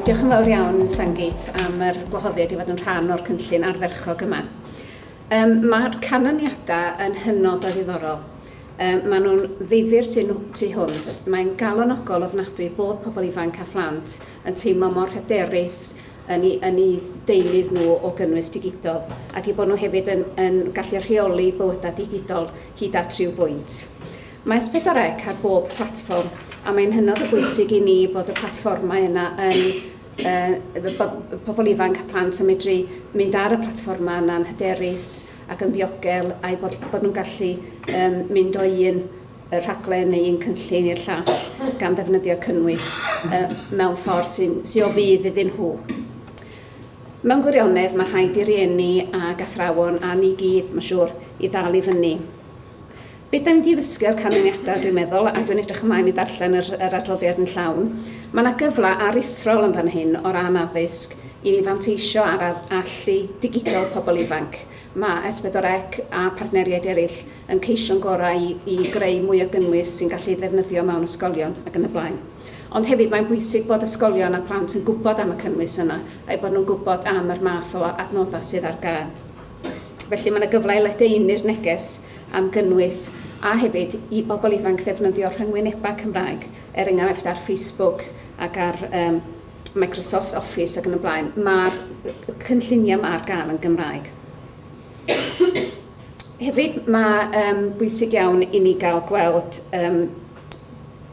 Diolch yn fawr iawn, Sangit, am yr gwahoddiad i fod yn rhan o'r cynllun ardderchog yma. Um, Mae'r canlyniadau yn hynod o ddiddorol. Um, maen nhw'n ddifur tu, tu hwnt. Mae'n galonogol ofnadwy bod pobl ifanc a phlant yn teimlo mor hyderus yn eu, yn eu deunydd nhw o gynnwys digidol, ac eu bod nhw hefyd yn, yn gallu rheoli bywydau digidol hyd at rhyw bwynt. Mae S4C ar bob platfform, a mae'n hynod o bwysig i ni bod y platfformau yna yn uh, bod pobl ifanc a plant yn medru mynd ar y platfformau yna'n hyderus ac yn ddiogel, a'i bod, bod nhw'n gallu um, mynd o un y rhaglen neu un cynllun i'r llall gan ddefnyddio cynnwys uh, mewn ffordd sy'n sy o fydd iddyn nhw. Mewn gwirionedd, mae rhaid i rieni a gathrawon a ni gyd, mae'n siŵr, i ddal i fyny. Beth da ni wedi ddysgu o'r canlyniadau, dwi'n meddwl, a dwi'n edrych ymlaen i ddarllen yr, yr adroddiad yn llawn, mae yna gyfle aruthrol yn fan hyn o ran addysg i ni fanteisio ar allu digidol pobl ifanc. Mae S4C a partneriaid eraill yn ceisio'n gorau i greu mwy o gynnwys sy'n gallu ei ddefnyddio mewn ysgolion ac yn y blaen. Ond hefyd mae'n bwysig bod ysgolion a plant yn gwybod am y cynnwys yna a'u bod nhw'n gwybod am yr math o adnoddau sydd ar gael. Felly mae yna gyfle i ledaenu'r neges am gynnwys a hefyd i bobl ifanc ddefnyddio rhyngwynebau Cymraeg, er enghraifft ar Facebook ac ar um, Microsoft Office ac yn y blaen. Mae'r cynlluniau yma ar gael yn Gymraeg. Hefyd, mae um, bwysig iawn i ni gael gweld um,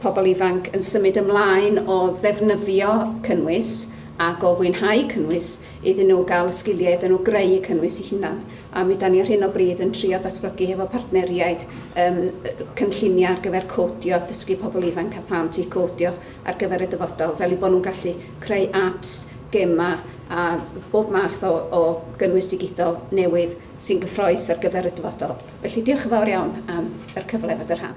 pobl ifanc yn symud ymlaen o ddefnyddio cynnwys ac o fwynhau cynnwys iddyn nhw gael y sgiliau iddyn nhw greu y cynnwys i hunan. A mi da ni ar hyn o bryd yn trio datblygu hefo partneriaid um, cynlluniau ar gyfer codio, dysgu pobl ifanc a plant i codio ar gyfer y dyfodol, fel eu bod nhw'n gallu creu apps, gemau a bob math o o gynnwys digidol newydd sy'n gyffrous ar gyfer y dyfodol. Felly, diolch yn fawr iawn am yr cyfle i fod yn rhan.